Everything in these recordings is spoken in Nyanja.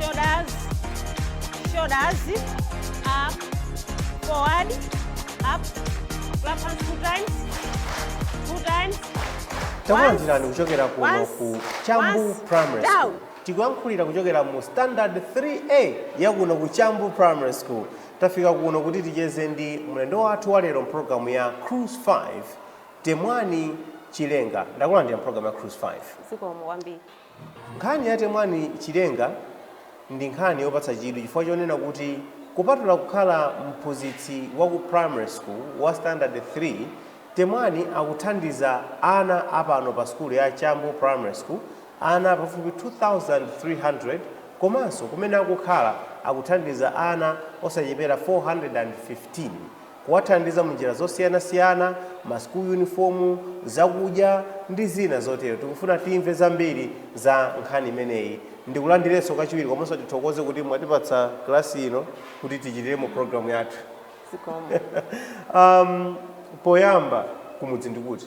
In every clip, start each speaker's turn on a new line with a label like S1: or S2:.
S1: shoulders, shoulders, up, forward, up, clap hands two times, two times. takulandirani
S2: kuchokera kuno ku chambu primary school tikuyankhulira kuchokera mu standard 3a ya kuno ku chambu primary school tafika kuno kuti ticheze ndi mlendo wathu wa lero mpulogalamu ya cruise 5 temwani chilenga takulandira mpulogalamu ya cruise 5 zikomo kwambiri
S1: Nkhani
S2: ya Temwani Chilenga ndi nkhani yopatsa chidwi chifukwa chonena kuti kupatula kukhala mphunzitsi wa ku primary school wa standard 3, Temwani akuthandiza ana a pano pa sukulu ya Chambu Primary School, ana pafupi 2,300 komanso kumene akukhala akuthandiza ana osachepera 415. kuwathandiza munjira zosiyana siyana, ma school uniform, zakudya ndi zina zotero. Tikufuna timve zambiri za nkhani imeneyi. Ndikulandirenso kachiwiri komanso tithokoze kuti mwatipatsa class ino kuti tichitiremo program yathu. Zikomo.
S1: um, poyamba
S2: kumudzi ndi kuti?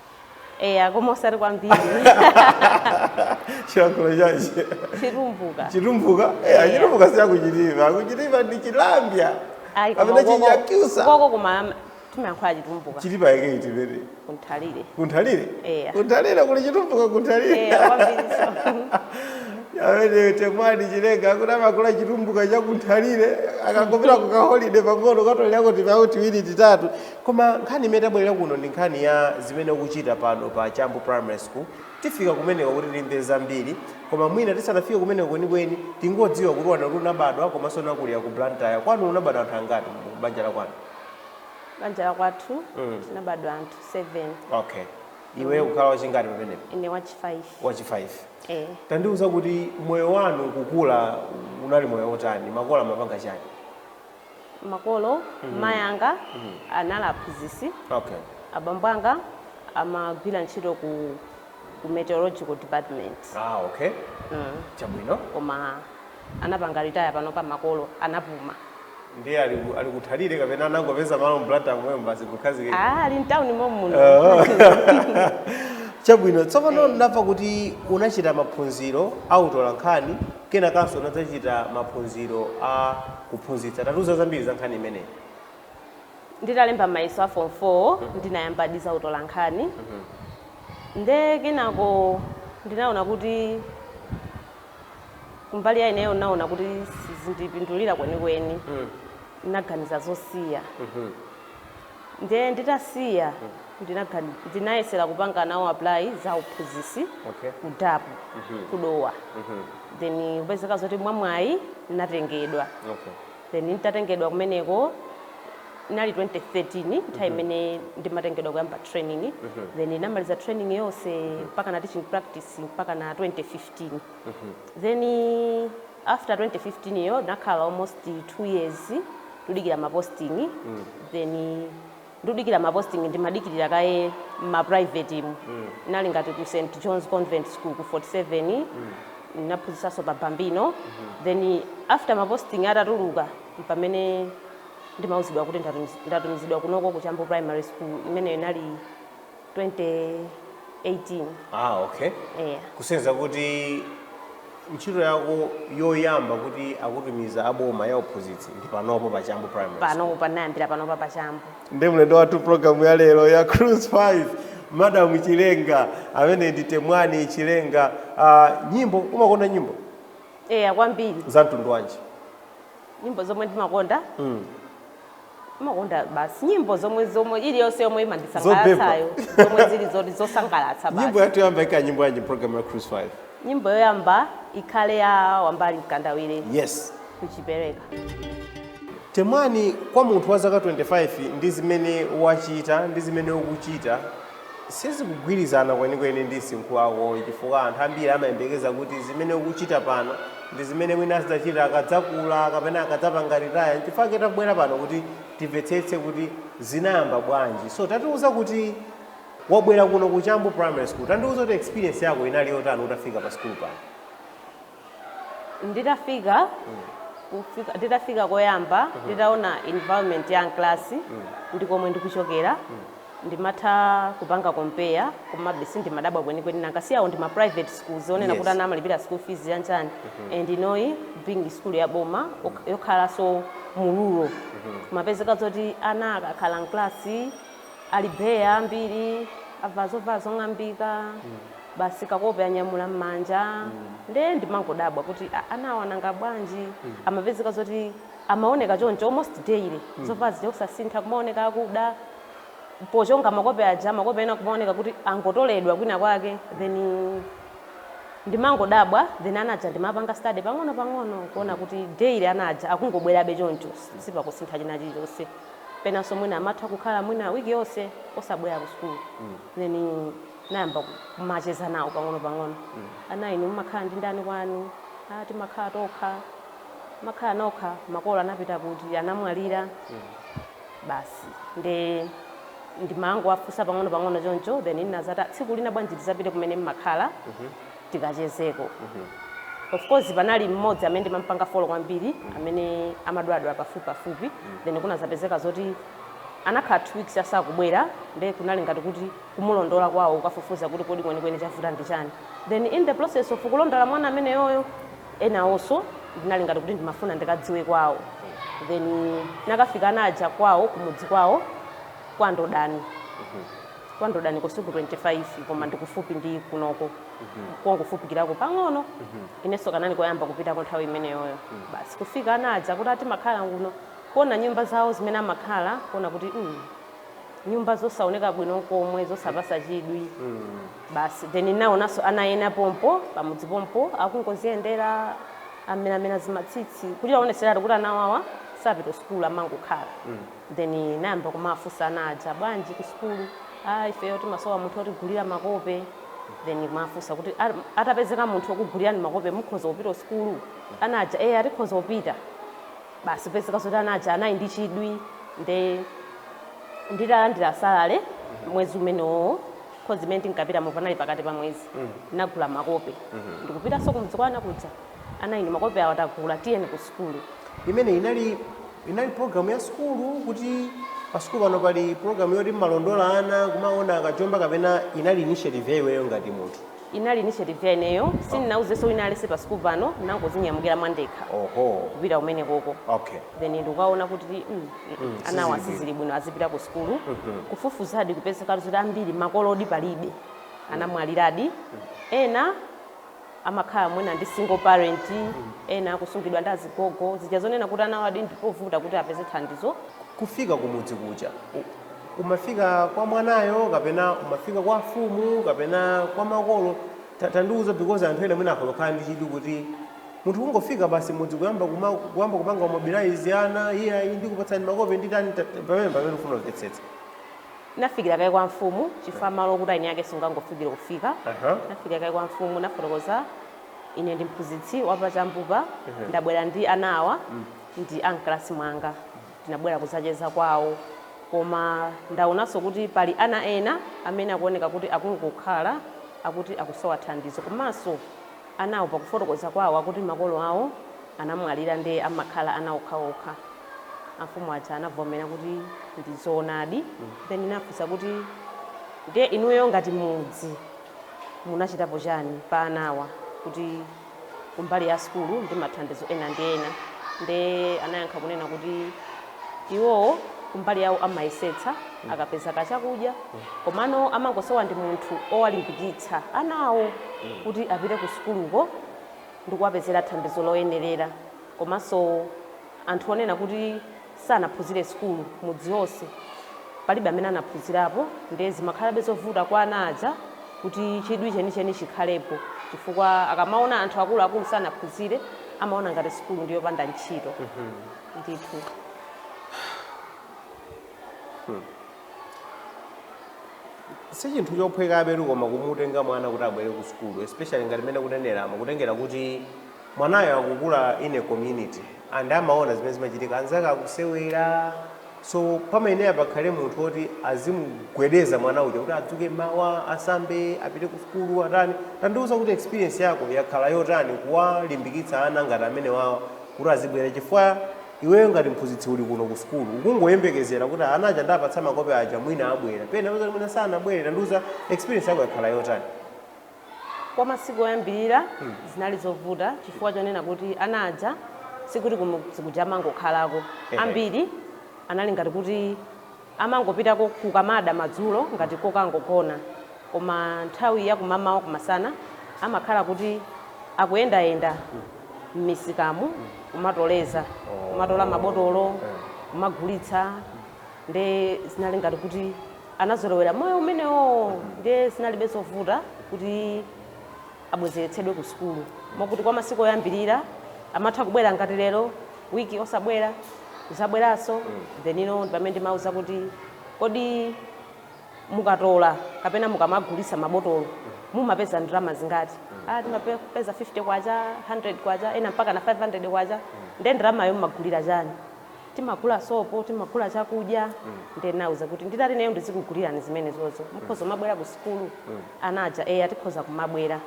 S1: eya koma osati
S2: kwambiri chilankhulo chachi
S1: chitumbuka chitumbuka
S2: eya Eya. chitumbuka si ya ku Chitipa ku Chitipa ndi chilambya Ayi, koma kapena koko- chinyakyusa koko koma
S1: timayankhula chitumbuka chitipa yake itiyo
S2: kunthalire
S1: kunthalire
S2: Eya. kunthalire kuli chitumbuka kunthalire eya kwambiriso a Temwani chilenga akuti anakula chitumbuka chakunthalire akangopita kukaholide pang'ono katolera kuti pawo tiwiri titatu Koma nkhani imene tabwelera kuno ndi nkhani ya zimene ukuchita pano pa Chambu Primary School. Tifika kumeneko kuti timve zambiri, koma mwina tisanafike kumeneko kwenikweni, tingodziwa kuti wanena kuti unabadwa komanso unakulira ku Blantyre. Kwanu unabadwa anthu angati mu banja la kwanu?
S1: Banja la kwathu Mm. tinabadwa anthu 7.
S2: Okay. Iweyo kukhala wachingati pamenepo? Ine wachi
S1: 5. Wachi 5. Eh.
S2: Tandiuza kuti moyo wanu kukula unali moyo wotani? Makolo amapanga chani?
S1: makolo mayi anga anali aphunzitsi
S2: Okay. abambo
S1: anga amagwira ntchito ku, ku meteorological department Ah, okay.
S2: Chabwino. koma
S1: anapanga retire panopa makolo anapuma Ndiye
S2: ali ku- ali ku Nthalire kapena anangopeza malo mu Blantyre momwemo basi kukhazikika. ah, ali mtawuni momuno
S1: Oh.
S2: Chabwino. Tsopano ndamva kuti unachita maphunziro a utolankhani Kenakanso unadzachita maphunziro aku uphunzitsi. Tatiuza zambiri za nkhani
S1: imeneyi. Nditalemba mayeso a Form 4 ndinayambadi za utolankhani. Nde kenako ndinaona kuti kumbali ya ineyo ndinaona kuti sizindipindulira kwenikweni. Ndinaganiza zosiya. Ndiye nditasiya ndinagani- ndinayesera kupanga nawo apply za uphunzitsi Okay. ku DAPP ku Dowa then kupezeka zoti mwamwayi ndinatengedwa Okay. then nditatengedwa kumeneko inali 2013 nthawi imene ndimatengedwa kuyamba training then ndinamaliza training yonse mpaka na teaching practice mpaka na 2015 then After 2015 yo ndinakhala almost 2 years ndudikira ma posting then ndudikira ma posting ndimadikirira kaye mma private mu inali ngati ku St John's Convent School ku 47 ndinaphunzitsanso pa Bambino then after ma posting atatuluka mpamene ndimauzidwa kuti ndatumiz- ndatumizidwa kunoko ku Chambu Primary School imeneyo inali 2018 Ah,
S2: okay. eya Kusonyeza kuti ntchito yako yoyamba kuti akutumiza aboma ya uphunzitsi ndi panopo pa Chambu Primary. School. pano panayambira panopa
S1: pa chambu ndi mlendo wathu
S2: programu ya lero ya cruise 5 madam chilenga amene ndi temwani chilenga uh, nyimbo umakonda nyimbo eya kwambiri
S1: za mtundu wanji
S2: nyimbo
S1: zomwe ndimakonda mm. Ndimakonda basi nyimbo zomwe zomwe iliyonse yomwe imandisangalatsayo zomwe zili zoti zosangalatsa basi. Nyimbo yathu yoyamba ikhala nyimbo
S2: yanji program ya Cruise 5? Nyimbo yoyamba
S1: ikhale ya Wambali Mkandawire.
S2: Yes. Nkhujipereka. Temwani kwa munthu wa zaka 25 ndi zimene wachita ndi zimene ukuchita Sizikugwirizana kwenikweni ndi msinkhu wako chifukwa anthu ambiri amayembekeza kuti zimene ukuchita pano ndi zimene mwina azidzachita akadzakula kapena akadzapanga retire. N'chifukwa chake tabwera pano kuti timvetsetse kuti zinayamba bwanji. So tatiuza kuti wabwera kuno ku Chambu Primary School. Tandiuza kuti experience yako inali yotani utafika pa sukulu pano?
S1: nditafika kufika- nditafika koyamba nditaona environment ya class ndi komwe ndikuchokera ndimatha kupanga compare komabe sindimadabwa kwenikweni nanga si awo ndi ma private schools onena Yes. kuti ana amalipira school fees chanichani and inoyi being school ya boma ok- yokhalanso mu rural kumapezeka zoti ana akakhala mklasi Ali bare ambiri, avala zovala zong'ambika, basi kakope anyamula m'manja. Nde ndimangodabwa kuti "Ah, ana awa nanga bwanji? Amapezeka zoti amaoneka choncho almost daily, zovala zija osasintha, kumaoneka akuda. Pochonga makope aja, makope ena kumaoneka kuti angotoledwa kwina kwake. Then ndimangodabwa, then ana aja ndimawapanga study pang'onopang'ono kuona kuti daily ana aja akungobwerabe choncho, sipakusintha china chilichonse. penanso mwina amatha kukhala mwina wiki yonse osabwera ku sukulu then nayamba kumacheza nawo pang'ono-pang'ono ana inu mumakhala ndi ndani kwanu a timakhala tokha makhala nokha makolo anapita kuti anamwalira basi nde ndimangowafunsa pang'ono-pang'ono choncho then ndinazati tsiku lina bwanji tizapite kumene mmakhala tikachezeko of course panali mmodzi amene ndimampanga follow kwambiri amene amadwaladwala pafupipafupi then kunazapezeka zoti anakhala two weeks asakubwera nde kunali ngati kuti kumulondola kwawo kukafufuza kuti kodi kwenikweni chavuta ndi chani then in the process of kulondola mwana ameneyoyo enawonso ndinali ngati kuti ndimafuna ndikadziwe kwawo then nakafika ana aja kwawo kumudzi kwawo kwa Ndodani Kwa Ndodani si ku 25 koma ndikufupi ndi kunoko kongofupikirako pang'ono inenso kanali koyamba kupitako nthawi imeneyoyo basi kufika ana aja kuti a timakhala kuno kuona nyumba zawo zimene amakhala kuona kuti mm, nyumba zosaoneka bwino nkomwe zosapasa chidwi basi then naonanso ana ena pompo pamudzi pompo akungoziyendera ameramera zimatsitsi kuti aoneseratu kuti ana awawa sapita sukulu amangokhala Then nayamba kumawafunsa ana aja, bwanji ku sukulu? Aaa ifeyo timasowa munthu otigulira makope. Then kumawafunsa kuti atapezeka munthu okugulirani makope mukhoza kupita kusukulu? Ana aja eya tikhoza kupita. Basi kupezeka zoti ana aja anali ndi chidwi nde nditalandira salary mwezi umenewowo coz imene ndinkapitayo panali pakati pa mwezi, ndinagula makope ndikupitanso kumudzi kwa ana kuja. Ana inu makope awa tagula tiyeni ku sukulu. Imeneyi
S2: inali program ya sukulu kuti pa sukulu pano pali program yoti mmalondola ana kumaona akajomba kapena inali initiative ya iweyo ngati munthu? Inali initiative ya
S1: ineyo sindinauzenso wina aliyense pa sukulu pano ndinangozinyamukira mwandekha Oho. kupita kumenekoko Okay. then ndikukaona kuti mm, mm, mm, anawa sizili bwino. sizili bwino azipita ku sukulu kufufuzadi kupezekadi zoti ambiri makolodi palibe anamwaliradi ena amakhala mwina ndi single parent, ena akusungidwa ndi azigogo, zija zonena kuti ana awadi ndipovuta kuti apeze thandizo. Kufika kumudzi
S2: kuja umafika kwa mwanayo kapena umafika kwa afumu kapena kwa makolo tandiuza because anthu ena mwina akhoza kukhala ndi chidwi kuti munthu kungofika basi mmudzi kuyamba kuyamba kupanga mobilize ana iyayi ndikupatsani makope nditani pamenepamene ndifuna kumvetsetsa.
S1: nafikira kaye kwa mfumu chifukwa malo okuti eni ake sungangofikire kufika Aha. nafikira kaye kwa mfumu nafotokoza ine ndi mphunzitsi wapa Chambu pa ndabwera ndi ana awa ndi amklasi mwanga tinabwera kuzacheza kwawo koma ndaonanso kuti pali ana ena amene akuoneka kuti akungokhala akuti akusowa thandizo komanso anawo pakufotokoza kwawo akuti makolo awo anamwalira nde amakhala ana okhaokha amfumu aja anavomera kuti ndi zoonadi then ndinafunsa kuti ndiye inuyo ngati mudzi munachitapo chani pa anawa kuti kumbali ya sukulu ndi mathandizo ena ndi ena nde anayankha kunena kuti iwowo kumbali yawo amayesetsa akapeza kachakudya komano amangosowa ndi munthu owalimbikitsa anawo kuti apite ku sukuluko ndikuwapezera thandizo loyenerera komanso Anthu onena kuti sanaphuzire sukulu mudzi onse palibe amene anaphuzirapo ndiye zimakhalabe zovuta kwa ana aja kuti chidwi chenicheni chikhalepo chifukwa akamaona anthu akuluakulu sanaphuzire amaona ngati sukulu ndi yopanda ntchito
S2: ndithu. Sichinthu chophwekabetu koma kumutenga mwana kuti abwere ku sukulu especially ngati mmene ukuneneramu kutengera kuti Mwanayo akukula in a community and amaona zimene zimachitika anzake akusewera so pamayenera pakhale munthu oti azimugwedeza mwana uja kuti adzuke mawa asambe apite ku sukulu atani tandiuza kuti experience yako yakhala yotani kuwalimbikitsa ana ngati amene wawa kuti azibwera chifukwa iweyo ngati mphunzitsi uli kuno ku sukulu ukungoyembekezera kuti ana aja ndapatsa makope aja mwina abwera pena mwina sanabwere tandiuza experience yako yakhala yotani
S1: Kwa masiku oyambirira zinali zovuta chifukwa chonena kuti ana aja sikuti kumudzi kuja amangokhalako. Ehe. Ambiri anali ngati kuti amangopitako kukamada madzulo ngati kokangogona. Koma nthawi ya kumamawa kumasana amakhala kuti akuyendayenda m'misikamu kumatoleza, kumatola mabotolo, kumagulitsa nde zinali ngati kuti anazolowera moyo umenewowo ndiye zinalibe zovuta kuti abwezeretsedwe ku sukulu mokuti kwa masiku oyambirira amatha kubwera ngati lero wiki osabwera kuzabweranso then ine pamene ndimauza kuti kodi mukatola kapena mukamagulisa mabotolo mumapeza ndalama zingati ah timapeza 50 kwacha 100 kwacha ena mpaka na 500 kwacha nde ndalamayo mumagulira chani timagula sopo timagula chakudya nde nauza kuti nditati ineyo ndizikugulirani zimenezozo mukhoza kumabwera ku sukulu ana aja eya tikhoza kumabwera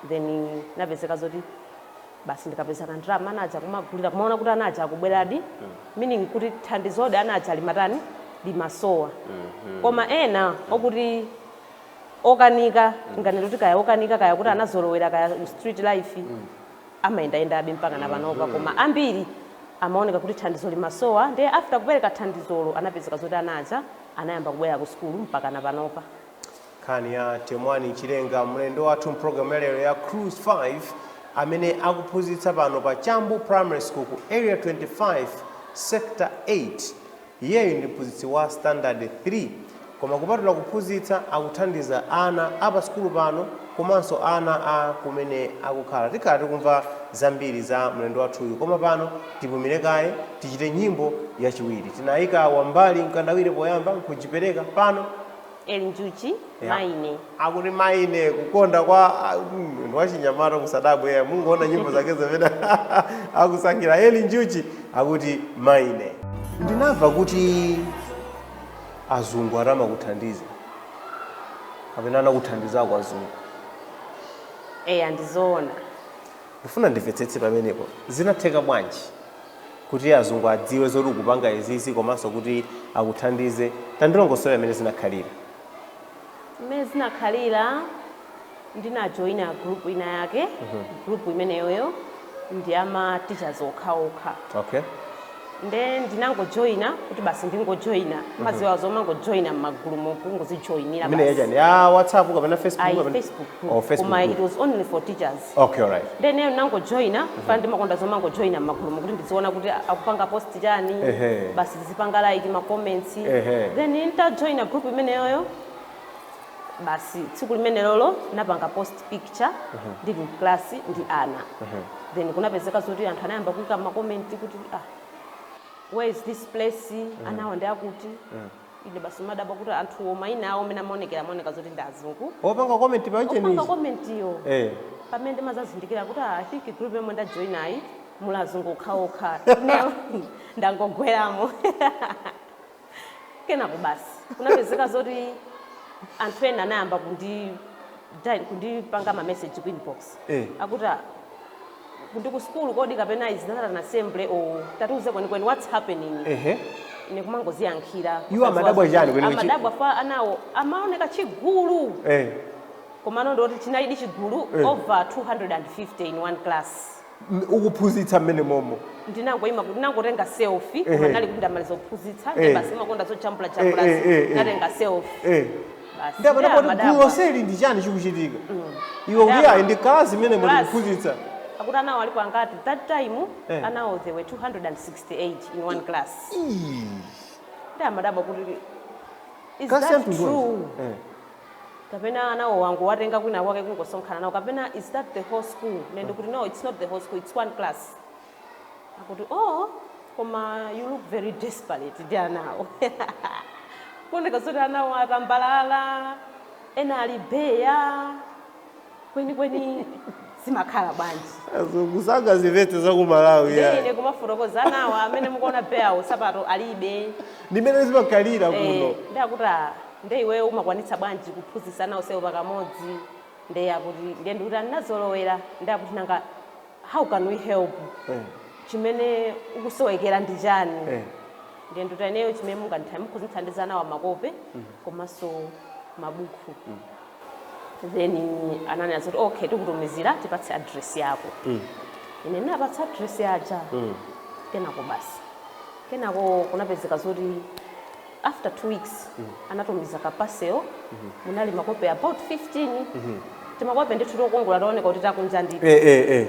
S1: then napezeka zoti basi ndikapeza kandalama ana aja kumagulira kumaona kuti ana aja akubweradi meaning kuti thandizodi ana aja limatani limasowa koma ena okuti okanika nganeno kuti kaya okanika kaya kuti anazolowera kaya street life amayendayendabe mpakana panopa koma ambiri amaoneka kuti thandizo limasowa nde after kupereka thandizolo anapezeka zoti ana aja anayamba kubwera ku sukulu mpakana panopa. nkhani ya
S2: temwani chilenga mlendo wathu mpulogalamu ya lero ya cruise 5 amene akuphunzitsa pano pa chambu primary school ku area 25 sector 8 Iyeyu ndi mphunzitsi wa sitandade 3 koma kupatula kuphunzitsa akuthandiza ana a pa sukulu pano komanso ana a kumene akukhala. Tikhala tikumva zambiri za mlendo wathuyu koma pano tipumile kaye tichite nyimbo yachiwiri. Tinaika Wambali Mkandawire poyamba nkujipereka, pano Eli
S1: Njuchi, Yeah. Maine. akuti
S2: maine kukonda kwa ah, mm, ndi wachinyamata musadabwe eh, mungoona nyimbo zake zimene akusankha eli njuchi akuti maine ndinamva kuti azungu ati amakuthandiza kapena anakuthandizako azungu Eya
S1: ndizoona. ndifuna
S2: ndimvetsetse pamenepo zinatheka bwanji kuti azungu adziwe zoti ukupanga izizi komanso kuti akuthandize tandilongosolera mmene
S1: zinakhalira mmene zinakhalira ndinajoyina group ina yake group imeneyoyo ndi ya ma teachers okhaokha
S2: okay
S1: nde ndinangojoyina kuti basi ndingojoyina mumadziwa zomangojoyina mmagulu mokungozijoyinira imene yachani ya
S2: whatsapp kapena facebook Ayi, kapena- Facebook group. oh,
S1: facebook Koma group. it was only
S2: for
S1: teachers. basi Okay, alright. nde
S2: ineyo
S1: ndinangojoina fana ndimakonda zomangojoina mmagulumo kuti ndiziona kuti a- akupanga post chani Ehe. basi ndizipanga like ma comments Ehe. then ntajoina group imeneyoyo basi tsiku limenelolo ndinapanga post picture ndili mklasi ndi ana then kunapezeka zoti anthu anayamba kuika ma comment kuti ah, where is this place anawa ndi akuti Ine basi ndimadabwa kuti anthuwo mayina awo amene amaonekera amaoneka zoti ndi azungu. Opanga comment pa chithunzi.
S2: Opanga comment yo. Eh.
S1: Pamene ndimadzazindikira kuti ah, I think group yomwe ndajoinayi muli azungu okhaokha. Ineyo ndangogweramo. Kenako basi kunapezeka zoti anthu ena anayamba kundi kundipanga ma message ku inbox. Eh. Akuti ah, ndi ku school kodi kapena is that an assembly or tatiuze kwenikweni what's happening ehe ine kumangoziyankhira Iwo amadabwa chani
S2: kwenikweni? amadabwa fa anawo
S1: amaoneka chigulu eh komano ndi zoti chinalidi chigulu Eh. over 250 in one class M-
S2: ukuphunzitsa mmene momo
S1: ndinangoima ndinangotenga selfie Ehe. koma ndinali kuti ndamaliza kuphunzitsa Eh. basi ndimakonda zojambula jambula Eh, eh, eh, eh. ndinatenga selfie eh Basi, ndi apana
S2: ndiye poti amadabwa. gulu lonseli ndi chani chikuchitika iwe kuti Amadabwa. ayi ndi kalasi imene Class. ndikuphunzitsa akuti anawo alipo
S1: angati that time Eh. anawo there were 268 in one class ndi amadabwa kuti is kalasi ya that mtundu true wanji? Eh. kapena anawo wangowatenga kwina kwake kungosonkhana nawo kapena is that the whole school ine ndikuti no it's not the whole school it's one class akuti oh koma you look very desperate ndi anawo kuoneka zoti anawo atambalala ena ali beya kwenikweni zimakhala bwanji azungu sangazimvetse
S2: za ku malawi Ndiye ya. ine
S1: kumafotokoza anawo amene mukuona beyawo sapato alibe ndimene
S2: zimakhalira kuno Eh, ndi akuti
S1: ah, nde iweyo umakwanitsa bwanji kuphunzitsa ana onsewo pakamodzi nde akuti nde ndikuti ah ndinazolowera ndi akuti nanga how can we help Eh. chimene ukusowekera ndi chani Eh. ndiye ndikuti ineyo chimene munganditha mukhoza kuthandiza anawo makope komanso mabuku then ananena zoti okay tikutumizira tipatse address yako ine ndinapatsa address yaja kenako basi kenako kunapezeka zoti after two weeks anatumiza ka parcel munali makope about 15 timakope ndithu tokongola tooneka kuti takunja ndithu eh, eh, eh.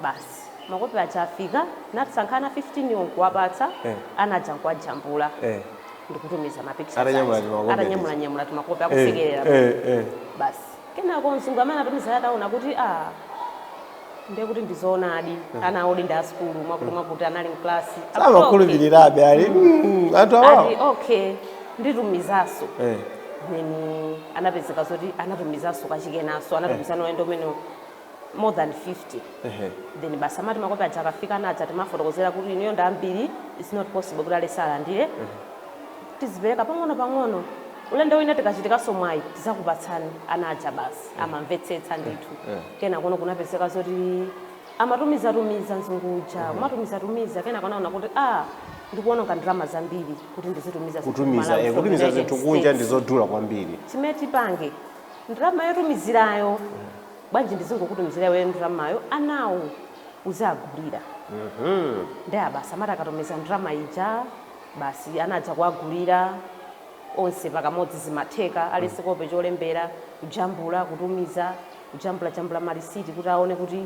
S1: basi makope aja afika ndinasankha ana 15 wo nkuwapatsa Eh. ana aja nkuwajambula Eh. ndikutumiza ma pictures Atanyamula timakope atanyamulanyamula timakope Eh, akusekerera eh, eh. basi Kenako mzungu amene anatumizayo ataona kuti aah ndiye kuti ndi zoonadi ana awo ndi ndi a sukulu mwakuti mwakuti anali mklasi akuti okay, samakhulupirirabe
S2: ali "Mm, anthu awawo ati
S1: okay nditumizanso Eh. then anapezeka zoti anatumizanso kachikenanso anatumizano ulendo umene more than 50 Ehe. then basi amati makope aja akafika ana aja timafotokozera kuti inuyo ndi ambiri its not possible kuti aliyense alandire tizipereka pang'ono pang'ono ulendo wina tikachitikanso mwayi tizakupatsani ana aja basi amamvetsetsa ndithu eh. kenakono kunapezeka zoti amatumizatumiza nzungu uja kumatumizatumiza kenako anaona kuti a ndikuononga ndalama zambiri kuti ndizitumiza zinthu kutumiza kumalawi eh, from kutumiza United
S2: zinthu kunja States. ndi zodula kwambiri chimene tipange
S1: ndalama yotumizirayo bwanji ndizingokutumizira iweyo ndramayo anawo uziagulira uhum nde basi amati akatumiza ndrama ija basi ana aja kuagulira onse pakamodzi zimatheka aliyense kope cholembera kujambula kutumiza kujambula jambula malisiti kuti aone kuti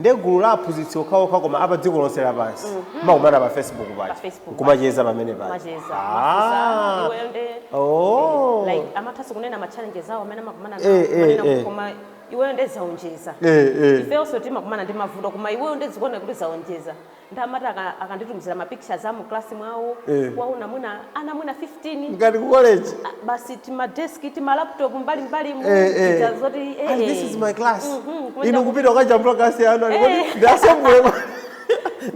S2: ndi gulu la aphunzitsi okhaokha koma a pa dziko lonse lapansi timakumana pa facebook pa paja Facebook kumacheza pamene paja macheza Ah. iwe nde
S1: Oh. like amathanso kunena ma challenges awo amene amakumana Eh, eh, nawo eh. nawo koma iweyo nde zaonjeza Eh, eh. ifenso timakumana ndi mavuto koma iweyo nde zikuona kuti zaonjeza nde amati aka, akanditumizira ma pictures amu class mwawo Eh. kuwaona mwina ana mwina 15 ngati ku college ah,
S2: basi tima
S1: desk tima laptop mbali mbali mu Eh, eh. zija zoti eh, And this eh. is my
S2: class Mhm, kuenda inu ku- kupita ukajambula klasi yanu Eh. alikoti ndasembule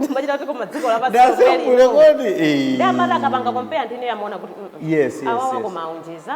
S1: timachita kuti koma dziko lapansi ndasembule kodi
S2: Eh. nde ndimati akapanga
S1: compare ndi ine amaona kuti mm, mm. yes yes, Awawa yes. koma aonjeza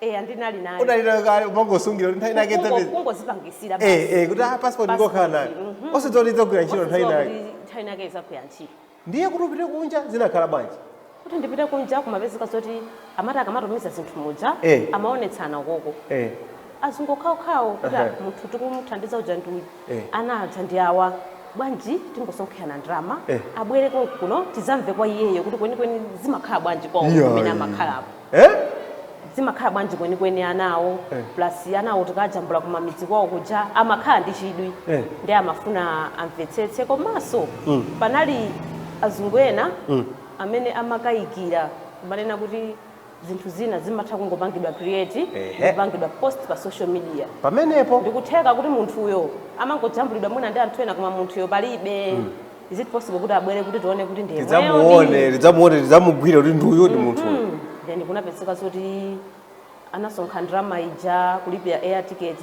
S2: eya
S1: ndinali nayo unali nayo kale
S2: umangosungira kuti nthawi inake Kungo- idzapeza kungozipangisira
S1: basi. Eh, eh, kuti
S2: ah, passport ngokhala nayo. Mhm. Osadziwa kuti idzagwira ntchito nthawi Osadziwa inake. kuti nthawi inake idzagwira
S1: ntchito ndiye kuti upite kunja
S2: zinakhala bwanji kuti ndipite kunja
S1: kumapezeka zoti amati akamatumiza zinthu muja Eh. amaonetsana koko eh. azungu okhaokhawo kuti Aha. munthu tikumuthandiza uja ndi uyu Eh. ana aja ndi awa bwanji tingosonkhana ndalama Eh. abwere kuno tizamve kwa iyeyo kuti kwenikweni zimakhala bwanji kwawo Iya, kumene iya. amakhalapo eh? zimakhala bwanji kwenikweni anawo Eh. plus anawo tikajambula kumamidzi kwawo kuja amakhala ndi chidwi Eh. ndi amafuna amvetsetse komanso Mm. panali azungu ena Mm. amene amakayikira kumanena kuti zinthu zina zimatha kungopangidwa create Ehe. ndikupangidwa post pa social media pamenepo ndikutheka
S2: kuti munthuyo
S1: amangojambulidwa mwina ndi anthu ena koma munthuyo palibe Is it possible kuti abwere kuti tione kuti ndi yemweyo tidzamuone ndi- tidzamuone
S2: tidzamugwire kuti ndi uyu ndi munthu uyu Mm. then kunapezeka
S1: zoti anasonkha ndalama ija kulipira air ticket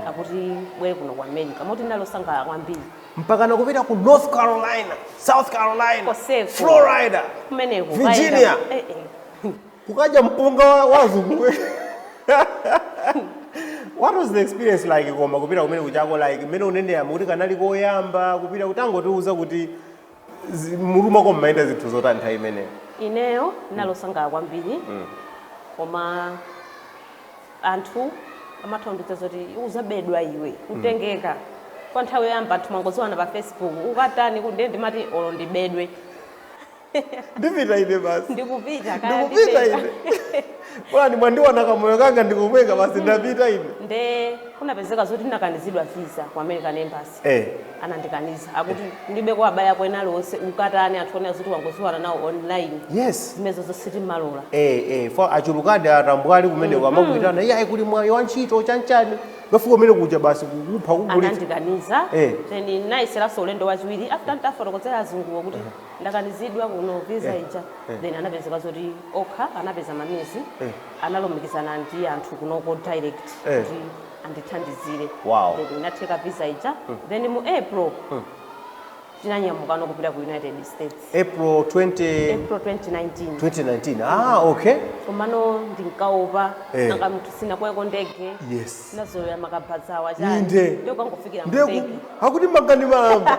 S1: akuti bwera kuno ku america moti nali osangalala kwambiri mpaka nakupita
S2: ku north carolina south carolina Koseko. florida kumeneko Virginia.
S1: kayenda- eh,
S2: eh. kukadya mpunga wa- wa azungu what was the experience like koma kupita kumene kuja ko like mmene unenera mukuti kanali koyamba kupita utangotiuza kuti zi- mmutu mwako mumayenda zinthu zotani nthawi imeneyo ineyo
S1: ndinalosangala kwambiri koma anthu amandiopseza zoti uzabedwa iwe utengeka kwa nthawi yoyamba anthu mwangodziwana pa facebook ukatani kuti ndiye ndimati olo ndibedwe
S2: ndipita ine basi ndikupita kaya
S1: ndikupita ndipeza.
S2: ine olo mwandiona kamoyo kanga ndi komweka basi ndapita ine nde kunapezeka
S1: zoti ndinakanizidwa visa ku american embassy eh anandikaniza akuti kulibe kwa abale ako ena aliwonse ukatani anthu onena zoti wangodziwana nawo online yes
S2: zimenezo sitimalola
S1: eh eh
S2: for achulukadi atambwali kumeneko amakuitana iyayi kuli mwayi wa ntchito chanchani ukafika kumene kuja basi kukupha kugulitsa anandikaniza Eh.
S1: then nayeseranso ulendo wachiwiri after ndafotokozera azunguwo kuti ndakanizidwa kuno visa Eh, ija eh. then anapezeka zoti okha anapeza ma means Eh. analumikizana ndi anthu kunoko direct Eh. kuti andithandizire Wow. Then inatheka visa ija then mu april ndinanyamukano kupita ku united states april
S2: 20 april 2019 2019 ah okay
S1: komano ndinkaopa Eh. nanga munthu sinakwereko ndege yes nazolowera
S2: makabazawa
S1: Inde. ndokangofikira ndiye mundege ku- akuti
S2: mangani malamba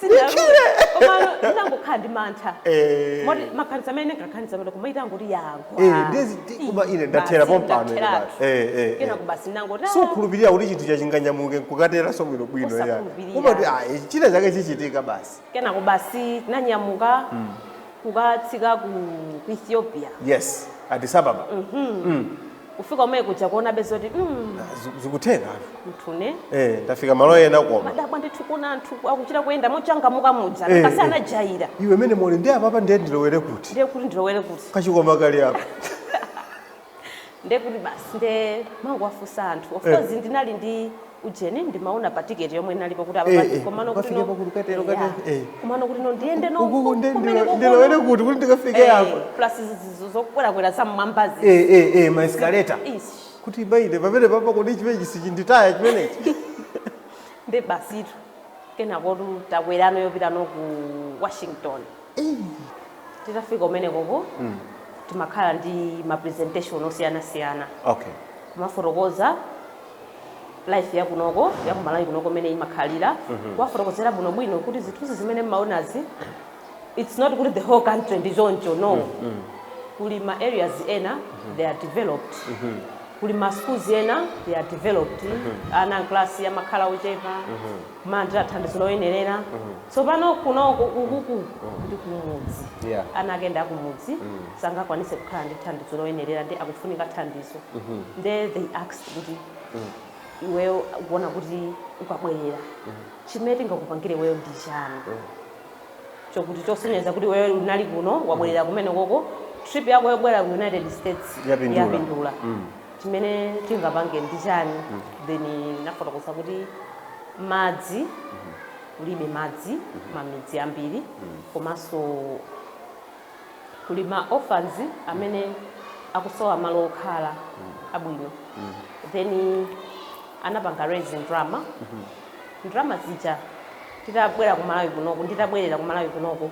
S1: Sindinalule. Komano ndinangokhala ndi mantha. Eh. Moti maganizo amene ndinkaganiza kuti koma itangoti yagwa. Eh, ndiye kuti koma ine
S2: ndathera Basi, pompano ine ndatheratu. basi. Eh, eh, eh. Kenako
S1: basi ndinangoti, ah, sukhulupirira kuti chinthu
S2: chachinganyamuke nkukateranso bwinobwino ya Usakhulupirira. kumati ayi china chake chichitika basi kenako
S1: basi tinanyamuka kukatsika ku ku ethiopia yes
S2: addis ababa
S1: kufika kumene kuja kuonabe zoti mm, Zi-
S2: zikutheka mthu
S1: ine eh tafika malo
S2: ena koma ndimadabwa ndithu kuona anthu
S1: akuchita kuyenda mochangamuka muja Eh, kasi eh. anajaira iwe mene muli ndi
S2: apapa ndiye ndilowere kuti ndiye kuti ndilowere
S1: kuti kachikwama kali apa ndiye kuti basi nde ndimangowafunsa anthu of Eh. course ndinali ndi ujeni ndimaona pa ticket yomwe inalipo kuti Eh, apa eh, komano kuti ukafike no pa kuti ukatero, Eh, ukatero, yeah. eh. komano kuti no ndiyende no Uku- uku nde- kumene ndilo- kuku-
S2: ndilowere kuti kuti ndikafike Eh, apo plus zizo
S1: zokwerakwera za mmwambazi Eh, eh, eh, ma escalator
S2: Ish. kuti paine pamenepapa kodi chimenechi sichinditaya chimenechi
S1: nde basitu kenakotu takwerano yopita no ku washington titafika kumenekoko timakhala ndi ma presentation osiyanasiyana okay
S2: kumafotokoza
S1: life ya kunoko ya kumalawi kunoko mene imakhalira kuwafotokozera bwino bwino kuti zithunzi zimene mmaonazi it's not kuti the whole country ndi choncho no kuli ma areas ena they are developed kuli ma schools ena they are developed ana mkalasi amakhala ochepa kumalandira thandizo loyenerera tsopano kunoku ukuku ndi kumudzi Yeah. ana akenso akumudzi sangakwanise kukhala ndi thandizo loyenerera nde akufunika thandizo nde they asked kuti iweyo ukuona kuti ukabwerera chimene tingakupangire iweyo ndi chani chokuti chosonyeza kuti iweyo unali kuno wabwerera kumene koko trip yako yobwera ku united states Yapindula. yapindula Mm. chimene tingapange ndi chani then nafotokoza kuti madzi kulibe madzi mamidzi ambiri komanso kuli ma orphans amene akusowa malo okhala abwino then anapanga raise ndalama ndalama zija nditabwera ku malawi kunoku nditabwerera ku malawi kunoku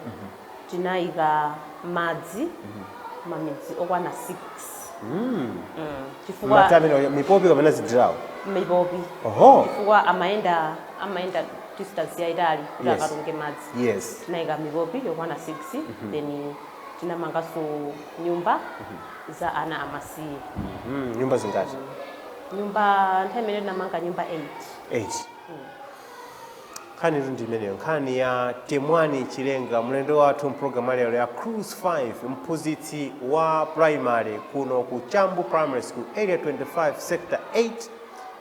S1: Tinayika madzi mamidzi okwana 6 chifukwa Madzi amene mipopi kapena
S2: zijigo. mipopi
S1: Oho. chifukwa amayenda amayenda distance yayitali kuti Yes. akatunge madzi Yes. tinayika mipopi yokwana 6 then tinamanganso nyumba za ana amasiye Mm, nyumba
S2: zingati? nyumba
S1: nthawi imeneyo tinamanga nyumba 8 8.
S2: Nkhanitu ndi imeneyo, nkhani ya Temwani Chilenga, mlendo wathu m'programu lero ya Cruise 5, mphunzitsi wa primary kuno ku Chambu Primary School, Area 25, Sector 8,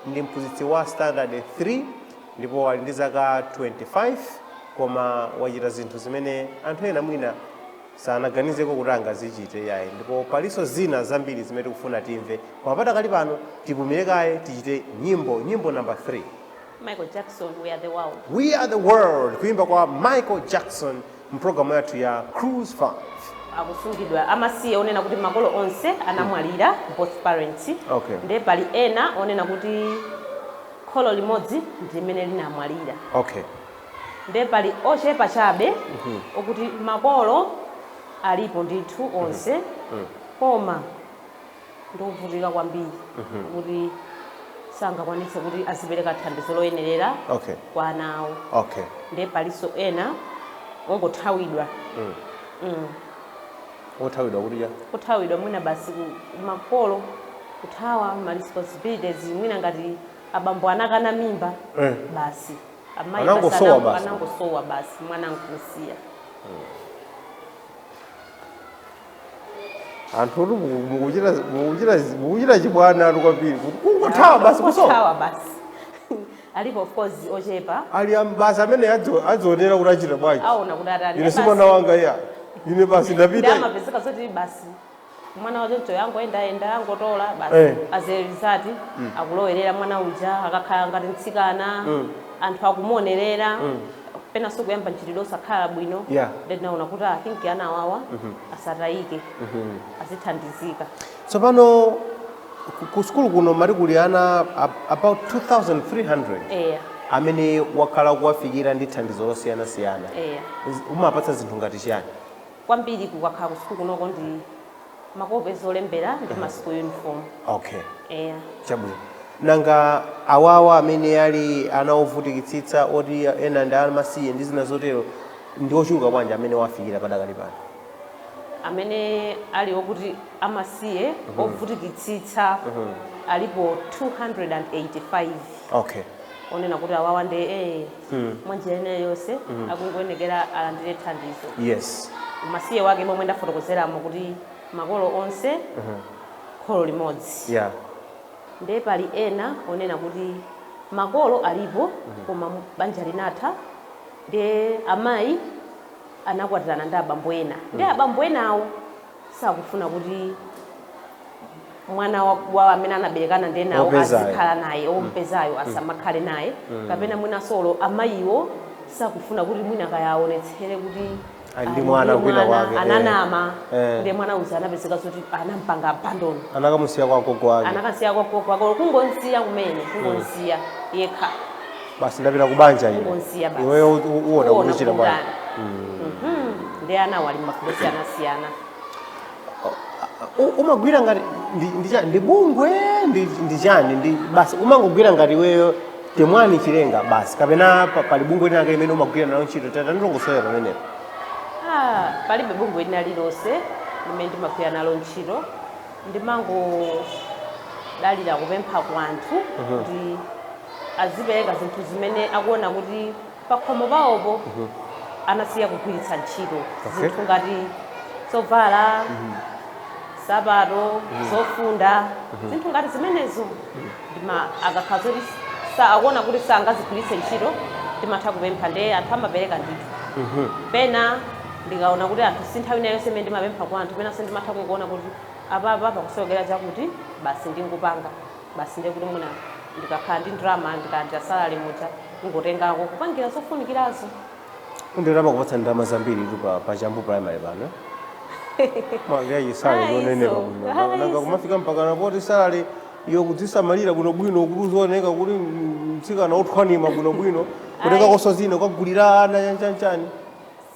S2: ndi mphunzitsi wa standard 3, ndipo ali ndi zaka 25, koma wachita zinthu zimene anthu ena mwina sanaganizeko kuti angazichite yayi ndipo palinso zina zambiri zimene tikufuna timve koma padakali pano tipumire kaye tichite nyimbo nyimbo namba 3 Michael
S1: Jackson, We Are The World. We Are The
S2: World, kuyimba kwa Michael Jackson mpulogalamu yathu ya Cruise 5. akusungidwa
S1: amasiye onena kuti makolo onse anamwalira both parents Okay. nde pali ena onena kuti kholo limodzi ndi limene linamwalira Okay. nde pali ochepa chabe okuti makolo alipo ndithu onse koma ndi ovutika kwambiri kuti sangakwanitse kuti azipereka thandizo loyenerera Okay. kwa ana awo okay ndiye palinso ena ongothawidwa othawidwa kuti eya kuthawidwa mwina basi ku- makolo kuthawa ma responsibilities mwina ngati abambo anakana mimba Eh. basi amayi basi Anangosowa anango- basi. anangosowa basi mwana nkusiya
S2: anthu oti muku- mukuchita mukuchita mukuchita chibwanatu kwambiri kuti kungothawa basi kusowa Kuthawa
S1: basi alipo of course ochepa ali am- basi amene
S2: adzo- adzionera kuti achita bwanji aona kuti atani ine si
S1: mwana wanga
S2: iya ine basi ndapita nde amapezeka zoti
S1: basi mwana wachoncho akungoyendayenda akungotola basi Eh. as a result akulowerera mwana uja akakhala ngati mtsikana anthu akumuonerera penanso kuyamba mchitidwe osakhala bwino Yeah. nde ndinaona kuti i think ana awawa asatayike azithandizika tsopano
S2: ku- ku sukulu kuno mali kuli ana ab- about 2300 eya amene wakhala kuwafikira ndi thandizo losiyanasiyana eya Z- umapatsa zinthu ngati chiyani kwambiri kukakhala
S1: kusukulu kunoko ndi makope zolembera ndi ma school uniform okay
S2: eya chabwino nanga awawa amene ali ana ovutikitsitsa oti ena ndi amasiye ndi zina zotero ndi ochuluka bwanji amene wawafikira padakali pano
S1: amene ali okuti amasiye ovutikitsitsa alipo 285 okay onena kuti awawa ndi eh, mm. mwa njira ina yonse mm. akungoyenekera alandire thandizo yes umasiye wake momwe ndafotokozeramo kuti makolo onse mm -hmm. kholo limodzi yeah. nde pali ena onena kuti makolo alipo mm -hmm. koma banja linatha nde amayi anakwatirana ndi abambo ena nde mm. abambo enawo sakufuna kuti mwana wa- wa amene anaberekana ndi enawo Wopezayo. azikhala naye ompezayo asamakhale naye kapena mwina so amayiwo sakufuna kuti mwina kayaonetsere kuti Ali ndi ali mwana
S2: ndi kwina mwana, kwake, eh. ananama
S1: Eh. ndi mwana uja anapezeka zoti anampanga abandon anakamusiya kwa gogo
S2: wake anakamusiya kwa gogo
S1: wake kungomsiya kumene kungomsiya yekha basi
S2: ndapita ku banja ine Kungomsiya basi. iweyo u-
S1: u- uona
S2: Uona kuchita bwanji kukutani.
S1: Mhm. ndi anawo ali magulu osiyanasiyana U-
S2: umagwira ngati ndi- ndi cha- ndi bungwe ndi ndi chani ndi basi umangogwira ngati iweyo temwani chilenga basi kapena pa- pali bungwe lina lake limene umagwira nalo ntchito tatandilongosolera pamenepo
S1: Ah, palibe bungwe lina lilonse limene ndimagwira nalo ntchito ndimangodalira kupempha kwa anthu kuti azipereka zinthu zimene akuona kuti pakhomo pawopo anasiya kugwiritsa ntchito Okay. zinthu ngati zovala sapato zofunda zinthu ngati zimenezo ndima akakhala zoti sa- akuona kuti sangazigwiritse ntchito ndimatha kupempha ndiye anthu amapereka ndithu pena ndikaona kuti anthu si nthawi ina iliyonse imene ndimapempha kwa anthu penanso ndimatha kungoona kuti apapa pakusowekera chakuti basi ndingopanga basi ndiye kuti mwina ndikakhala ndi ndalama ndikalandira salary muja ndingotengako kupangira zofunikirazo Nde
S2: amakupatsa ndalama zambiritu pa pa Chambu primary pano. Mwina salary Ayi, yonenepa so. kuno. Ayi, Nanga so. kumafika mpakana poti salary yo kudzisamalira bwino bwino kuti uzioneka kuti mtsikana othwanima bwino bwino. Kutenga Ayi. konso zina kuwagulira ana chanichani.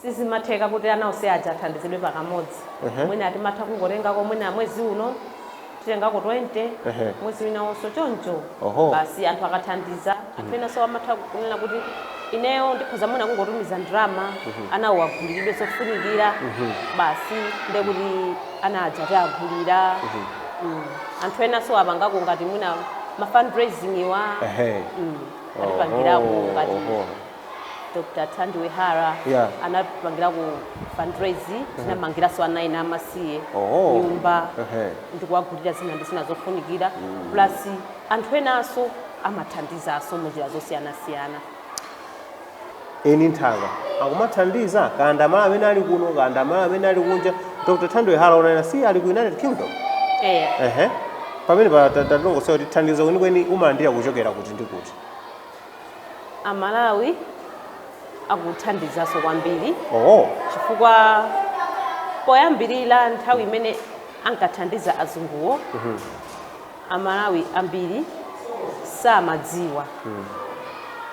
S1: sizimatheka kuti ana onse aja athandizidwe pakamodzi Ehe. mwina timatha kungotengako mwina mwezi uno titengako 20 Ehe. mwezi winawonso choncho Oho. basi anthu akathandiza anthu enanso amatha kunena kuti ineyo ndikhoza mwina kungotumiza ndalama anawo agulilidwe zofunikira basi nde kuti ana aja tiwagulira Mm. anthu enanso apangako ngati mwina ma fundraising awa Ehe. mm, atipangirako Oho, ngati oho. Dr. Thandiwe Hara Yeah. anapangirako fundraise tinamangiranso ana ena amasiye Oho. nyumba Ehe. ndikuwagulira zina ndi zina zofunikira plus anthu enanso amathandizanso munjira zosiyanasiyana
S2: eni nthaka akumathandiza kaya ndi aMalawi amene ali kuno kaya ndi aMalawi amene ali kunja dr thandiwe hara mukunena si ali ku united kingdom eh. ehe pamenepa tatilongosolera kuti thandizo kwenikweni umalandira kuchokera kuti ndi kuti amalawi
S1: akuthandizanso kwambiri oh. chifukwa poyambirira nthawi imene ankathandiza azunguwo mm -hmm. amalawi ambiri samadziwa mm.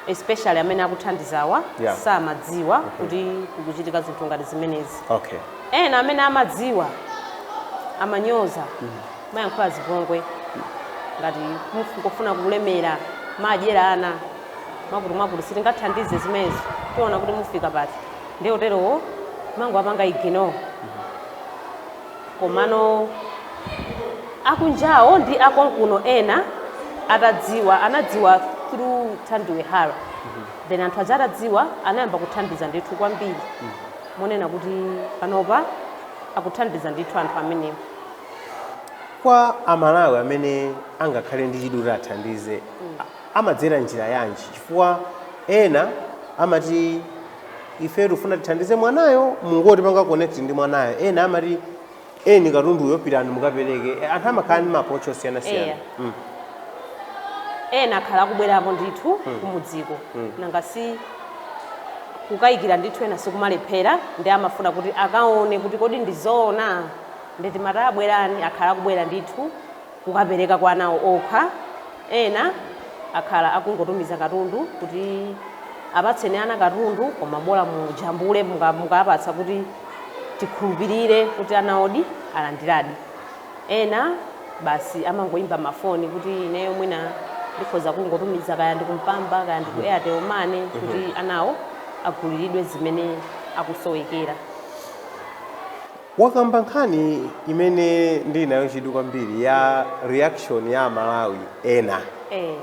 S1: especially amene akuthandizawa yeah. samadziwa
S2: mm -hmm. kuti
S1: kukuchitika zinthu ngati zimenezi okay. ena
S2: amene
S1: amadziwa amanyoza mm -hmm. amayankhula zipongwe ngati mukufuna kulemera mudyera ana mwakuti mwakuti sitingathandize zimenezo tiona kuti mufika pati ndi oterowo mangowapanga ignore komano akunjawo ndi akonkuno ena atadziwa anadziwa through thandiwe hara then anthu aja atadziwa anayamba kuthandiza ndithu kwambiri monena kuti panopa akuthandiza ndithu anthu amenewo
S2: Kwa Amalawi amene angakhale ndi chidwi kuti athandize, amadzera njira yanji? Chifukwa ena amati ife tikufuna tithandize mwanayo, mungotipanga connect ndi mwanayo. Ena amati eni katunduyo pitani mukapereke. E, Anthu amakhala ndi ma approach osiyanasiyana. Eya.
S1: Mm. ena akhala akubwerapo ndithu kumudziko nanga si kukayikira anthu ena sikumalephera ndi amafuna kuti akaone kuti kodi ndizoona Nde timati a bwerani akhala akubwera ndithu kukapereka kwa anawo okha, ena akhala akungotumiza katundu kuti apatseni ana katundu koma bola mujambule mukapatsa kuti tikhulupirire kuti anawodi alandiradi. Ena basi amangoimba mafoni kuti ineyo mwina ndikhoza kungotumiza kaya ndi ku Mpamba kaya ndi ku Airtel Money kuti anawo aguliridwe zimene akusowekera.
S2: Wakamba nkhani imene ndili nayo chidwi kwambiri ya reaction ya Amalawi ena eh,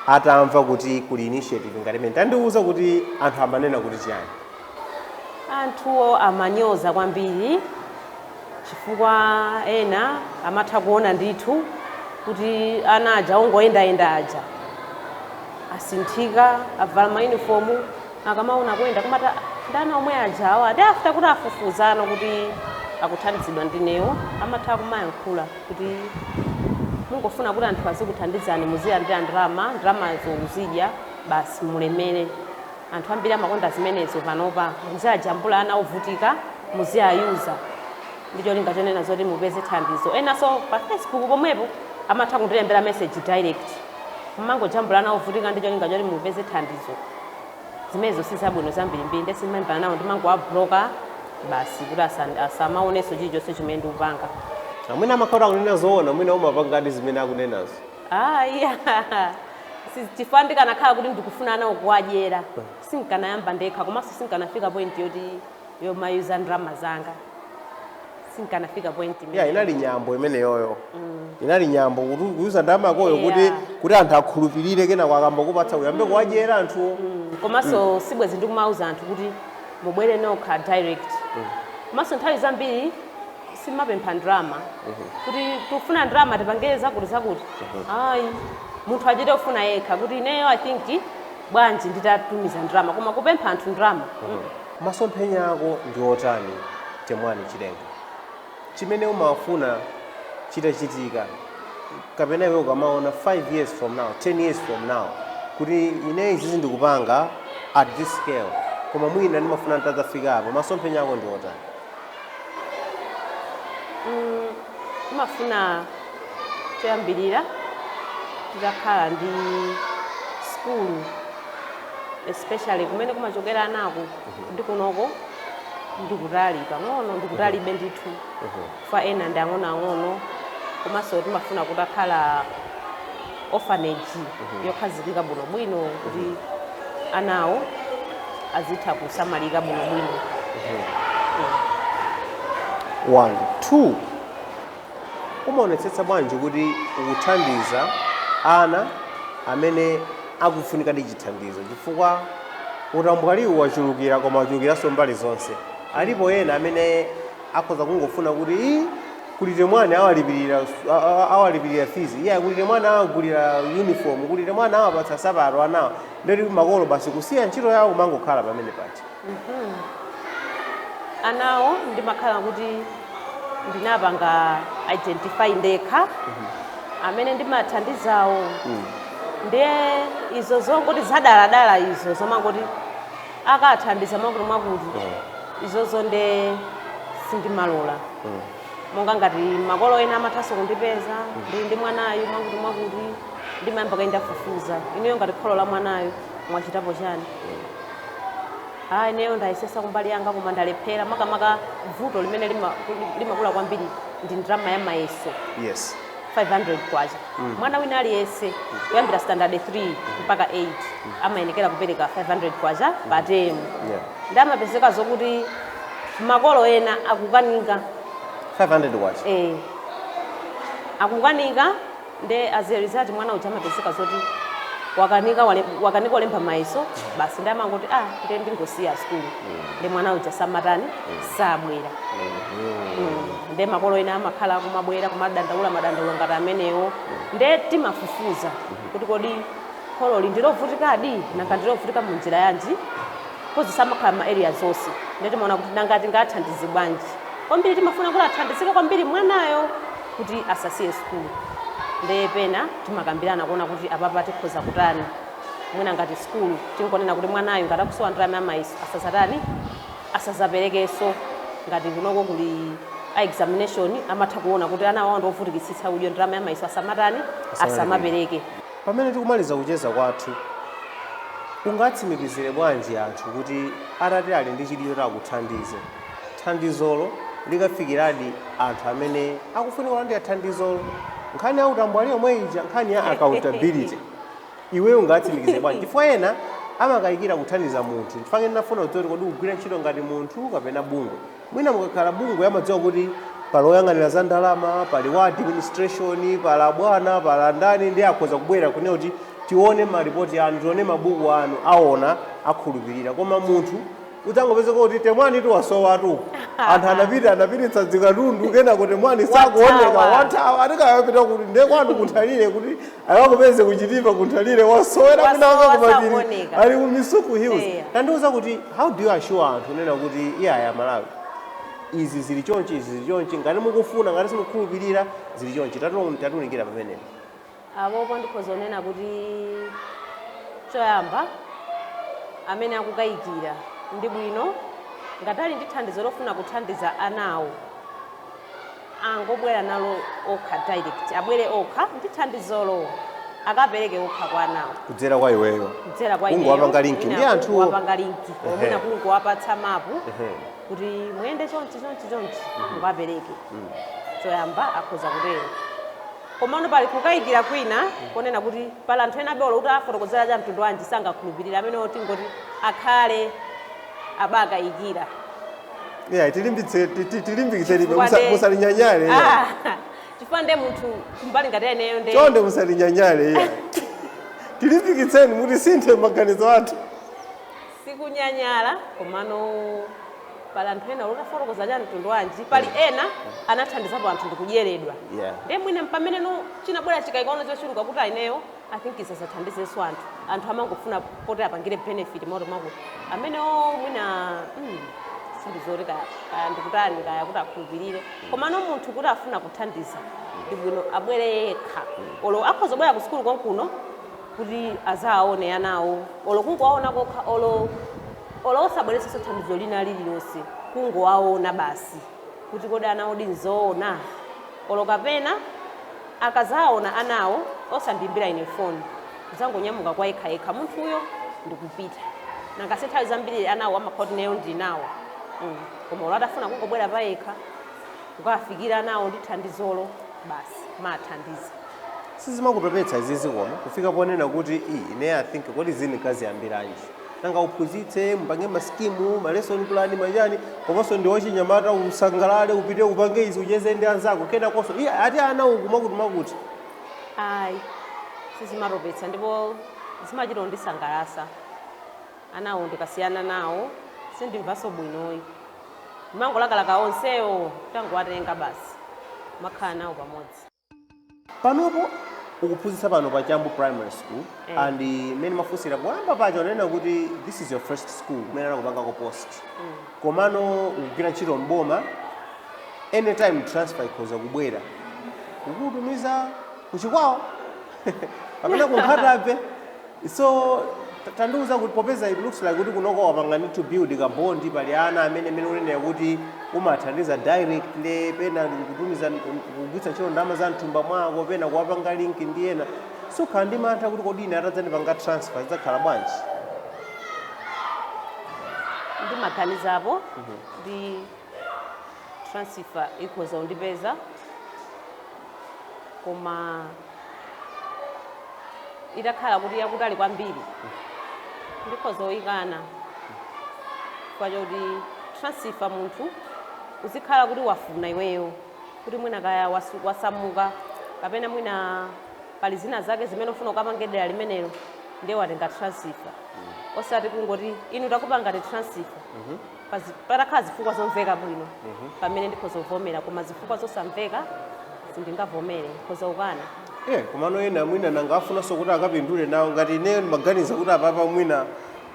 S2: atamva kuti kuli initiative ngati imene tandiuza kuti anthu amanena kuti chiyani.
S1: anthuwo amanyoza kwambiri chifukwa ena amatha kuona ndithu kuti ana aja ongoyendayenda aja asinthika avala mayunifomu akamaona kuyenda kumati "Ah, ndi ana omwe aja awa ndi after kuti afufuzano kuti akuthandizidwa ndinewo amatha kumayankhula kuti mungofuna kuti anthu azikuthandizani muzilandira ndalama ndalamazo muzidya basi mulemere anthu ambiri amakonda zimenezo panopa muziajambula ana ovutika muziayuza ndi cholinga chonena zoti mupeze thandizo enanso pa facebook pomwepo amatha kundilembera message direct Kumangojambula ana ovutika ndi cholinga choti mupeze thandizo, zimenezo si zabwino zambirimbiri ndiye sindimalimbana nawo, ndimangowablocker basi kuti asan- asamaonenso chilichonse chimene ndikupanga. Ah, mwina
S2: amakhala kuti akunena zoona mwina umapangadi zimene akunenazo Ah,
S1: iya Si- chifukwa ndikanakhala kuti ndikufuna anawo kuwadyera sinkanayamba ndekha komanso sinkanafika point yoti yomayuza ndalama zanga sinkanafika point ya imeneyo. inali
S2: nyambo imeneyoyo inali nyambo kuti kuyuza ndalama yakoyo kuti Yeah. kuti anthu akhulupirire kenako akamakupatsa uyambe kuwadyera anthuwo Mm, komanso
S1: sibwezi ndikumauza anthu kuti mubwere nokha direct komanso nthawi zambiri simapempha ndalama kuti tikufuna ndalama tipangire zakuti zakuti ayi munthu achite kufuna yekha kuti ineyo i think bwanji nditatumiza ndalama koma kupempha anthu ndalama
S2: Masomphenya ako ndi otani? Temwani Chilenga. Chimene umafuna chitachitika kapena iwe ukamaona 5 years from now, 10 years from now kuti ine izizi ndikupanga at this scale koma mwina ndimafuna nditadzafika apo. Masomphenya ako ndi
S1: otani? Timafuna choyambirira titakhala ndi sukulu. especially kumene kumachokera anaku ndi kunoko ndikutali pang'ono ndikutalibe ndithu fa ena ndi ang'onoang'ono komanso timafuna kutakhala orphanage yokhazikika bwinobwino kuti anawo azitha kusamalika bwinobwino
S2: one two Umaonetsetsa bwanji kuti ukuthandiza ana amene akufunikadi chithandizo? Chifukwa utambwaliwu wachulukira koma wachulukiranso mbali zonse. Alipo ena amene akhoza kungofuna kuti, ii, kuli Temwani awalipirira awalipirira fizi, iyayi kuli Temwani awagulira yunifomu, kuli Temwani awapatsa nsapato anawa, ndiye kuti makolo basi kusiya ntchito yawo kumangokhala pamenepa eti.
S1: Hmm. Anawo ndimakhala kuti ndinapanga identify ndekha mhm. amene ndimathandizawo hmm. ndiye izo zongoti zadaladala izo zomangoti akathandiza mwakuti mwakuti hmm. izozo nde sindimalola monga ngati makolo ena amathanso kundipeza ndili ndi mwanayu mwakuti mwakuti ndimayamba kaye ndafufuza inuyo ngati kholo la mwanayu mwachitapo chani Ah, ineyo ndayesesa kumbali yanga koma ndalephera makamaka vuto limene lima- lim- limakula kwambiri ndi ndalama ya mayeso yes 500
S2: kwacha
S1: mwana wina aliyense kuyambira standard 3 mpaka 8 amayenekera kupereka 500 kwacha pa temu yeah. nde amapezeka zokuti makolo ena akukanika 500 kwacha
S2: eh,
S1: akukanika Nde as a result mwana uja amapezeka zoti wakanika wale, wakanika kulemba mayeso basi nde amangoti ah nde ndingosiya sukulu nde mwana uja samatani sabwera Mm. nde makolo ena amakhala akumabwera kumadandaula madandaulo ngati amenewo nde timafufuza kuti kodi khololi ndilovutikadi nanga ndilovutika mu njira yanji coz timakhala ma area zonse nde timaona kuti nanga tingathandize bwanji kwambiri timafuna kuti athandizike kwambiri mwanayo kuti asasiye sukulu nde pena timakambirana kuona kuti apapa tikhoza kutani mwina ngati sukulu tinkonena kuti mwanayu ngati akusowa ndalama ya mayeso asazatani asazaperekeso ngati kunoko kuli a examination amatha kuona kuti ana awawa ndiovutikitsitsa ndiye ndalama ya mayeso asamatani asamapereke
S2: Pamene tikumaliza kucheza kwathu, ungatsimikizire bwanji anthu kuti atati ali ndi chidwi choti akuthandize? thandizolo likafikiradi anthu amene akufunika kulandira thandizolo. Nkhani ya utambwali yomwe ija, nkhani ya accountability, iweyo ungatsimikize bwanji? Chifukwa ena amakayikira kuthandiza munthu. Chifukwa chake ndinafuna kudziwa kuti kodi ukugwira ntchito ngati munthu kapena bungwe. Mwina mukakhala bungwe amadziwa kuti pali oyang'anira za ndalama, pali wa administration, pali abwana, pali andani ndiye akhoza kubwera kunena kuti tione malipoti anu, tione mabuku anu, aona akhulupirira. Koma munthu Udzangopezeka kuti Temwanitu wasowatu uku. Anthu anapita anapititsa dzikatundu kenako Temwani sakuoneka Wathawa. wathawa atikayapita kuti ndiye kwanu ku Nthalire kuti akakupeze ku Chitipa ku Nthalire wasowera Wasowa, kunaka kumapiri sakuoneka. ali ku Misuku Hills. Eya. Tandiuza kuti how do you assure anthu kunena kuti iyayi aMalawi izi zili chonchi izi zili chonchi ngati mukufuna ngati simukhulupirira zili chonchi Tati- tatiunikira pamenepo.
S1: Apopo ndikhoza kunena kuti choyamba amene akukayikira ndi bwino ngati ali ndi thandizo lofuna kuthandiza anawo angobwere nalo okha direct, abwere okha ndi thandizolo akapereke okha kwa anawo. Kudzera kwa
S2: iweyo. Kudzera kwa ineyo.
S1: Kungowapanga link ndi
S2: Mwina anthuwo. kungowapanga link. Or
S1: Ehe. mwina kungowapatsa mapu Ehe. kuti muyende chonchi chonchi chonchi mukapereke. Choyamba akhoza kutero. Komano pali kukayikira kwina konena kuti pali anthu enabe olo utawafotokozera cha mtundu wanji sangakhulupirire, amenewo tingoti akhale abakayikira. Iyayi tilimbitse
S2: ti- ti- tilimbikitsenibe Chifukwa musa- nde- musatinyanyale iyayi.
S1: Ah, chifukwa nde munthu kumbali ngati eneyo nde chonde musatinyanyale
S2: iyayi tilimbikitseni mutisinthe maganizo athu
S1: Sikunyanyala komano pali anthu ena olo utafotokoza cha mtundu wanji pali mm. ena anathandizapo anthu ndikudyeredwa yeah. nde mwina mpamene no chinabwera chikaikaona chochuluka kuti a ineyo i think ndisazathandizenso anthu anthu amangofuna poti apangire benefit moto mwakuti amenewo mwina mm, sindizoti kaya kaya ndikutani kaya kuti akhulupirire mm. komano munthu kuti afuna kuthandiza ndibwino abwere yekha mm. olo akhoza kubwera ku sukulu konkuno kuti azaawone anawo olo kungowaona kokha olo olo osabweretsanso thandizo lina lililonse kungowaona basi kuti kodi anawo di nzoona olo kapena akazaona anawo osandiimbira ine phone kuzangonyamuka kwa yekha yekha munthuyo ndikupita nanga si nthawi zambiri anawo amakhala kuti ineyo ndili nawo mm. koma olo atafuna kungobwera payekha kukafikira anawo ndi thandizolo basi maathandiza
S2: sizimakutopetsa izizi koma kufika ponena kuti i ine i think kodi izi nkaziyambiranji nanga uphunzitse mupange masikimu malesson plan machani komanso ndiwe wachinyamata usangalale upite upange izi ucheze ndi anzako kenakonso iye ati ana uku mwakuti mwakuti
S1: ayi sizimatopetsa ndipo zimachita kundisangalatsa anawo ndikasiyana nawo sindimvanso bwinoyi ndimangolakalaka onsewo nditangowatenga basi nkumakhala nawo pamodzi
S2: Panopo ukuphunzitsa pano pa Chambu Primary School mm. and mmene mafunsira poyamba paja unanena kuti this is your first school kumene anakupangako post mm. komano ukugwira ntchito mboma anytime transfer ikhoza kubwera kukutumiza ku Chikwawa kapena ku Nkhata Bay So tandiuza kuti popeza it looks like kuti kunoko wapanga build ka bond pali ana amene mene unenera kuti umathandiza directly pena kutumiza kugwiritsa ntchito ndalama za mthumba mwako pena kuwapanga link ndi ena sukhala ndi mantha kuti kodi ine atadzandipanga transfer zidzakhala
S1: bwanji ndimaganizapo ndi transfer ikhoza kundipeza koma itakhala kuti yakutali kwambiri ndikhoza kuyikana chifukwa choti transfer munthu uzikhala kuti wafuna iweyo kuti mwina kaya wasu- wasamuka kapena mwina pali zina zake zimene ufuna ukapange dera limenelo ndiye watenga transfer osati kungoti inu takupangani transfer pazi- patakhala zifukwa zomveka bwino pamenepo ndikhoza kuvomera koma zifukwa zosamveka sindingavomere ndikhoza kukana Eh, komano ena
S2: mwina nanga afunanso kuti akapindule nawo ngati ineyo ndimaganiza kuti apapa mwina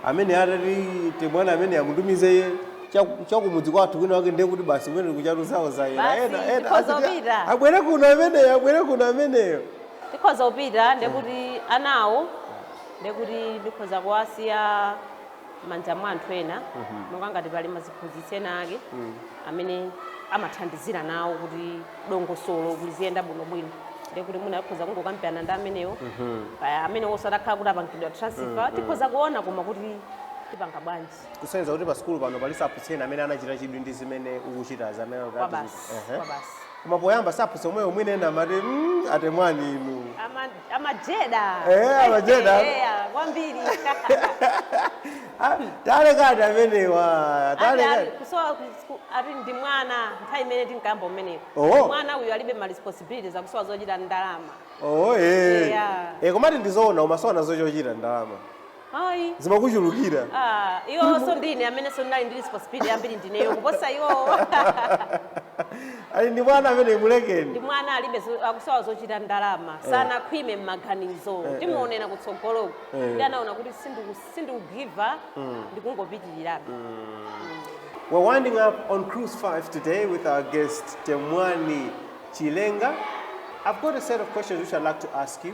S2: amene atati timwana amene timutumize iye chaku- chakumudzi kwathu kwina wake ndiye kuti basi kumene kuchatu zawo zayera Basi, ena ena ndikhoza
S1: aziti, kupita. abwere
S2: kuno ameneyo abwere kuno ameneyo ndikhoza kupita
S1: ndekuti anawo ndekuti ndikhoza kuwasiya manja mwa anthu ena monga ngati pali maziphunzitsi ena ake amene amathandizira nawo kuti dongosolo liziyenda bwinobwino ndiye kuti mwina tikhoza kungokambirana ndi amenewo kaya amene osatakhala kuti apangidwa transfer tikhoza kuona koma kuti tipanga bwanji kusonyeza kuti pa
S2: sukulu pano pali maziphunzitsi ena amene anachita chidwi ndi zimene ukuchitazi amene anati- kwabasi Ehe.
S1: kwabasi koma
S2: poyamba aziphunzitsi omwewo mwina ena amati "Mm, a Temwani inu Ama-
S1: Amajeda. Eh,
S2: amajeda. Eh, ah, kwambiri. Ah, talekani amenewo Ati ali- talekani kusowa
S1: kus- ku- ati ndi mwana nthawi imene tinkayamba kumeneko. Oh. Mwana uyu alibe ma responsibilities akusowa zochita ndi ndalama. oh eh Yeah. eh komati
S2: ndizoona umasowa nazo chochita ndalama
S1: Ayi.
S2: zimakuchulukira Ah,
S1: iwonso ndine amenenso ndinali ndi responsibility yambiri ndineyo kuposa
S2: iwowo ati ndi mwana amene mulekeni ndi mwana alibe zo-
S1: akusowa zochita ndalama sanakhwime m'maganizo timuonera kutsogoloko Eh. ndi anaona kuti sindiku- sindikugiva
S2: ndikungopitirirabe We're winding up on Cruise 5 today with our guest Temwani Chilenga. I've got a set of questions which I'd like to ask you.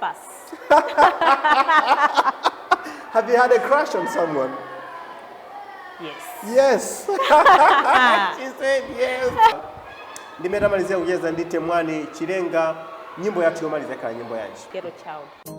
S1: Pass.
S2: Have you had a crush on someone? Yes.
S1: Yes.
S2: She said yes. Ndimetamalizia kucheza ndi Temwani Chilenga nyimbo yathu yomaliza khala
S1: nyimbo
S2: yanji. Ghetto child.